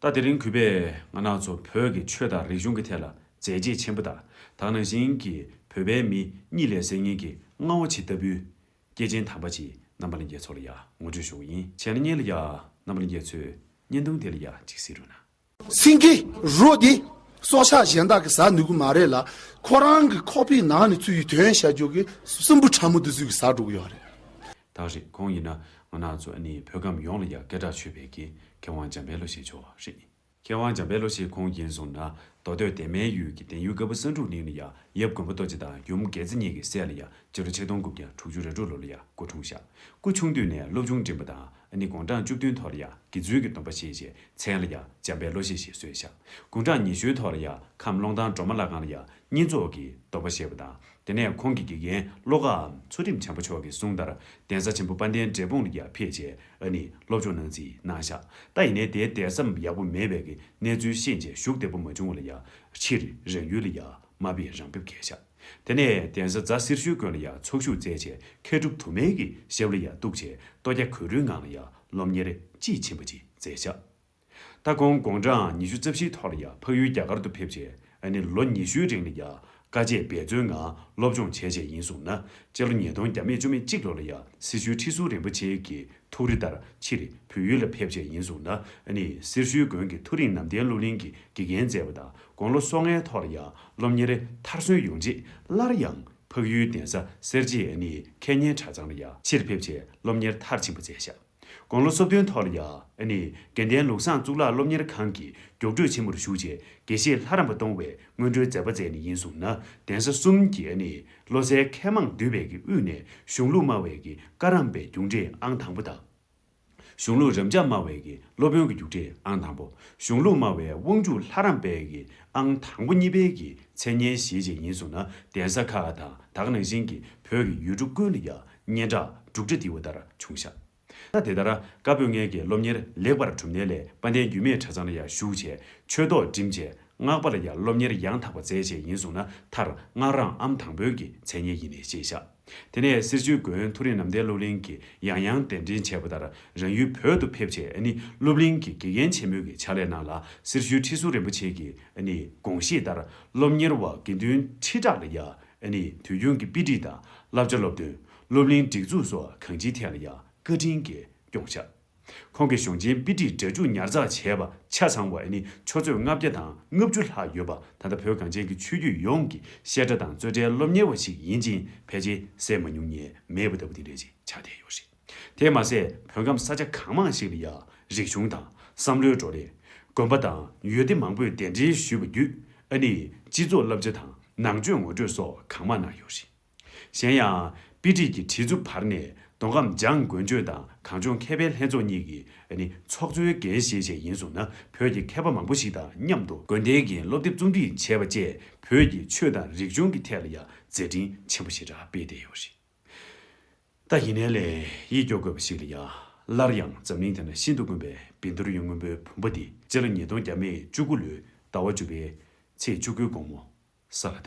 ད་དེ་རིང་གུས་པས་ང་ནག་ཚོ་བོད་ཀྱི་ཆོས་དང་རིག་གཞུང་གི་ཐད་ལ་མཛད་རྗེས་ཆེན་པོ་དག་དག་ནང་བཞིན་གྱི་བོད་པའི་མི་གཉིད་ལས་སད་ངེས་ཀྱི་རྔ་བོ་ཇི་ལྟ་བུའི། སྐྱེས་ཆེན་དམ་པ་ཅིག་རྣམ་པ་ལ་འགྱེད་ཚོ་ལ་ཡང་ངོ་སྤྲོད་ཞུ་བ་ཡིན་བྱས་ན་བརྙན་ལ་ཡང་རྣམ་པ་ལ་འགྱེད་ཚོས་བརྙན་ཐུང་དེ་ལ་ཡང་ཅིག་གཟིགས་རོགས་གནང། སེང་གེ་རུ་འདི་སྲོག་ཆགས་གཞན་དག་གི་ཟ་ནུས་ཀྱི་མ་རེད་ལ་ཁོ་རང་གི་ཁོག་པའི་ནང་ནས་ཚུད་ཡོད་དོན་བཤད་རྒྱུ་གི་སྲིན་བུ་ཕྲ་མོ་འདི་ཚོས་གི་ཟ་འགྲོ་གི་ཡོད་རེད། དག་རེད་ཁོང་ཡིན་ན་ངོ་ནག་ཚོ་ཨ་ནི་བོད་ཁམས་ཡོངས་ལ་ཡ་སྐད་གྲགས་ཆོད་པའི་གི་མཁས་དབང་འཇམ་དཔལ་ལོ་ཤས་མཆོག་རེད། མཁས་དབང་འཇམ་དཔལ་ལོ་ཤས་ཁོང་ཡིན་སོང་ན་མདོ་སྟོད་དད་མའི་ཡུལ་གི་དན་ཡུལ་དཀར་པོ་ས་འབྲུག་གླིང་ལ་ཡ་ཡབ་མགོན་པོ་རྡོ་རྗེ་དང་ཡུམ་རྒྱལ་རྩེ་གཉིས་ཀྱི་སྲས་ལ་ཡ་སྤྱི་ལོ་ཆིག་སྟོང་དགུ་བརྒྱ་དྲུག་ཅུ་རེ་དྲུག་ལོ་ལ་ཡ་སྐུ་འཁྲུངས་ཤག་སྐུ་ཆུང་དུས་ནས་སློབ་ཆུང་འགྲིམས་པ་དང་ཨ་ནི་དགུང་གྲངས་བཅུ་བདུན་ཐོག་ལ་ཡ་དགེ་བཙུན་གྱི་སྡོམ་པ་བཞེས་རྗེས་མཚན་ལ་ཡ་འཇམ་དཔལ་ལོ་ཤས་ཞེས་གསོལ་ཤག་དགུང་གྲངས་ཉི་ཤུའི་ཐོག་ལ་ཡ་ཁམས་ཀློང་ཐང་སྒྲོལ་མ་བླ་སྒང་ལ་ཡ་གཉིས་ཚོགས་ཀྱིས་སྡོམ་པ་བཞེས་པ་དང་དེ་ནས་ཁོང་གི་དགེ་རྒན་བློ་དགའ་འམ་ཚུལ་ཁྲིམས་བྱམས་པ་མཆོག་གི་གསུང་ལྟར་གདན་ས་ཆེན་པོ་དཔལ་ལྡན་འབྲས་སྤུངས་ལ་ཡར་ཕེབས་རྗེས་ཨ་ནི་སློབ་སྦྱོང་གནང་རྩིས་གནང་ཤག་ད་ཡིན་ནའི་དེའི་དད་སེམས་ཡག་པོ་མེད་པས་གི་གནས་ཚུལ་ཤེས་རྗེས་ཞུགས་བདེ་པོ་མ་བྱུང་བ་ལ་ཡར་ཕྱིར་རང་ཡུལ་ལ་ཡར་མ་ཕེབས་རང་ཕེབས་གལ་ཤག་དེ་ནས་གདན་ས་རྫ་སེར་ཤུལ་དགོན་ལ་ཡར་ཚོགས་ཞུགས་མཛད་རྗེས་མཁས་གྲུབ་དུ་མའི་གི་ཞབས་ལ་ཡར་གཏུགས་རྗེས་ལྟོ་སྐྱ་གོས་རུའི་ངང་ལ་ཡར་སློབ་གཉེར་དཔྱིས་ཕྱིན་པ་གཅིག་མཛད་ཤག། ད་ཁོང་དགོངས་འདྲའང་ཉི་ཤུ་རྩ་བཞིའི་ཐོག་ལ་ཡ་འཕགས་ཡུལ་རྒྱ་གར་དུ་ཕེབས་རྗེས་ཨ་ནི་ལོ་ཉི་ཤུའི་རིང་ལ་ཡ་དཀའ་སྤྱད་འབད་བརྩོན་ངང་སློབ་སྦྱོང་བྱས་རྗེས་ཡིན་གསུངས་ན་དཔྱད་ལོ་ཉིས་སྟོང་བརྒྱ་མེད་བཅུ་མེད་གཅིག་ལོ་ལ་ཡ་སེར་ཤུལ་ཁྲི་ཟུར་རིན་པོ་ཆེ་གི་ཐུགས་རེ་ལྟར་ཕྱིར་བོད་ཡུལ་ལ་ཕེབས་རྗེས་ཡིན་གསུངས་ན་ཨ་ནི་སེར་ཤུལ་དགོན་གྱི་ཐུགས་རིང་ནམ་བསྟན་སློབ་གླིང་གི་དགེ་རྒན་མཛད་པ་དང་དགོང་ལོ་སོ་ལྔའི་ཐོག་ལ་ཡ་སློབ་གཉེར་མཐར་སོན་ཡོང་རྗེས་སླར་ཡང་འཕགས་ཡུལ་གདན་ས་གསེར་རྗེའི་ཨ་ནི་མཁས་སྙན་གྲྭ་ཚང་ལ་ཡ་ཕྱིར་ཕེབས་རྗེས་སློབ་གཉེར་མཐར་ཕྱིན་པ་མཛད་བཞག། དགུང་ལོ་སོ་བདུན་ཐོག་ལ་ཡཱ་ནི་དགེ་ལྡན་ལུགས་བཟང་གཙུག་ལག་སློབ་གཉེར་ཁང་གི་རྒྱུགས་སྤྲོད་ཆེན་མོར་ཞུགས་རྗེས་དགེ་བཤེས་ལྷ་རམས་པ་གཏོང་བའི་སྔོན་འགྲོའི་མཛད་པ་མཛད་ནས་ཡིན་གསུངས་ན་གདན་ས་གསུམ་གྱི་ཨ་ནི་བློ་གསལ་མཁས་མང་འདུས་པའི་གི་དབུས་ནས་གཞུང་ལུགས་སྨྲ་བའི་གི་བཀའ་རམས་པའི་རྒྱུགས་འབྲས་ཨང་དང་པོ་དང། གཞུང་ལུགས་རབ་འབྱམས་སྨྲ་བའི་གི་སློབ་དཔོན་གྱི་རྒྱུགས་འབྲས་ཨང་དང་པོ་གཞུང་ལུགས་སྨྲ་བའི་དབང་ཕྱུག་ལྷ་རམས་པའི་གི་ཨང་དང་པོ་གཉིས་པའི་གི་མཚན་སྙན་བཞེས་རྗེས་ཡིན་གསུངས་ན་གདན་ས་ཁག་དང་དག་ནང་བཞིན་གྱི་བོད་ཀྱི་ཡུལ་གྲུ་ཀུན་ལ་ཡཱ་སྙན་གྲགས་འབྲུག་སྒྲ་ལྡིར་བ་ལྟར་བྱུང། ཤ་སྟག་དེ་ལྟར་བཀའ་པོད་ལྔའི་དགེ་སློབ་གཉེར་ལེགས་པར་གྲུབ་ནས་ལས་དཔའ་བརྟན་རྒྱུད་མེད་གྲྭ་ཚང་ལ་ཡང་ཞུགས་བྱས་ཆོས་ཐོག་འགྲིམས་བྱས་སྔགས་པ་ལ་ཡང་སློབ་གཉེར་ཡང་དག་པ་མཛད་བྱས་ཡིན་གསུངས་ན་མཐར་སྔགས་རང་ཨམ་དང་པོད་ཀྱི་མཚན་སྙན་ཡིན་ནས་ཤེས་བྱ། དེ་ནས་གསེར་ཆོས་དགོན་མཐོ་རིས་ནམ་ཟླའི་སློབ་གླིང་གི་ཡང་ཡང་གདན་འདྲེན་བྱས་པ་ལྟར་རང་ཡུལ་བོད་དུ་ཕེབས་བྱས་ནི་སློབ་གླིང་གི་དགེ་རྒན་ཆེན་མོ་གི་ཕྱག་ལས་གནང་ལ་གསེར་ཞུའི་ཁྲི་ཟུར་རིན་པོ་ཆེ་གི་ནི་དགོངས་བཞེད་ལྟར་སློབ་གཉེར་བ་དགེ་འདུན་ཁྲི་ཕྲག་ལ་ཡང་ཨ་ནི་དུས་རྒྱུན་གྱི་དཔེ་སྒྲིག་དང་བསླབ་བྱ་སློབ་སྟོན། སློབ་གླིང་སྒྲིག་འཛུགས་སོགས་གང་ཅིའི་ཐད་ལ་ཡང་བཀའ་དྲིན་གྱིས་སྐྱོང་བཞག། ཁོང་གི་གཞུང་ཆེན་དཔེ་སྒྲིག་སྒྲ་འཇུག་ཉར་ཚགས་བྱས་པ་ཆ་ཚང་བ་ཨ་ནི་ཆུ་ཚོད་ལྔ་བརྒྱ་དང་ལྔ་བཅུ་ལྷག་ཡོད་པ་ད་ལྟ་བོད་གངས་ཅན་གྱི་ཆོས་བརྒྱུད་ཡོངས་ཀྱི་བཤད་གྲྭ་དང་རྩོད་གྲྭའི་སློབ་གཉེར་བ་ཞིག་ཡིན་ཅིང་ཕལ་ཆེར་ཟད་མ་མྱོང་ཉེས་མེད་པ་ལྟ་བུ་དེ་འདྲའི་ཆགས་བསྡད་ཡོད་རེད། དེས་མ་ཟད་བོད་ཁམས་ས་ཆ་གང་མང་ཞིག་ལ་ཡང་རིག་གཞུང་དང་བསམ་བློའི་བགྲོ་གླེང། དགོན་པ་དང་ཡུལ་སྡེ་མང་པོས་གདན་འདྲེན་ཞུས་པ་བརྒྱུད་ཨ་ནི་སྤྱི་ཚོགས་བསླབ་བྱ་དང་ནང་ཆོས་ངོ་སྤྲོད་སོགས་གང་མང་གནང་ཡོད་རེད། གཞན་ཡང། དཔེ་ཁྲིད་ཀྱི་ཁྲིད་རྩུབ་བར་ནས་མདོ་ཁམས་འཇང་དགོན་ཆོས་དང་གངས་ལྗོངས་མཁས་པའི་ལྷན་ཚོགས་གཉིས་ཀྱི་ཨ་ནི་ཚོགས་གཙོའི་འགན་བཞེས་བྱས་ཡིན་སོང་ན་བོད་ཀྱི་མཁས་པ་མང་པོ་ཞིག་དང་མཉམ་དུ་དགོན་སྡེའི་འགན་སློབ་དེབ་རྩོམ་སྒྲིག་བྱས་པ་བཅས་བོད་ཀྱི་ཆོས་དང་རིག་གཞུང་གི་ཐད་ལ་ཡང་མཛད་འཕྲིན་ཆེན་པོ་ཞིག་རག་སྤེལ་བསྡད་ཡོད་རེད། ལྟ་ཡིན་ནའི་ལས་ཡིད་སྐྱོ་དགོས་པ་ཞིག་ལ་ཡ། སླར་ཡང་འཛམ་གླིང་དེ་ན་ཤིན་ཏུ་དཀོན་པའི་བིན་དོར་ཡོན་སྔོན་པོའི་བུམ་པ་འདི་སྤྱི་ལ་ཉིས་སྟོང་བརྒྱ་མེད་བཅུ་དགུ་ལོའི་ཟླ་བ་བཅུ་པའི་ཚེས་བཅུ་དགུའི་དགོང་མོ་ས་ལ་བཏབ།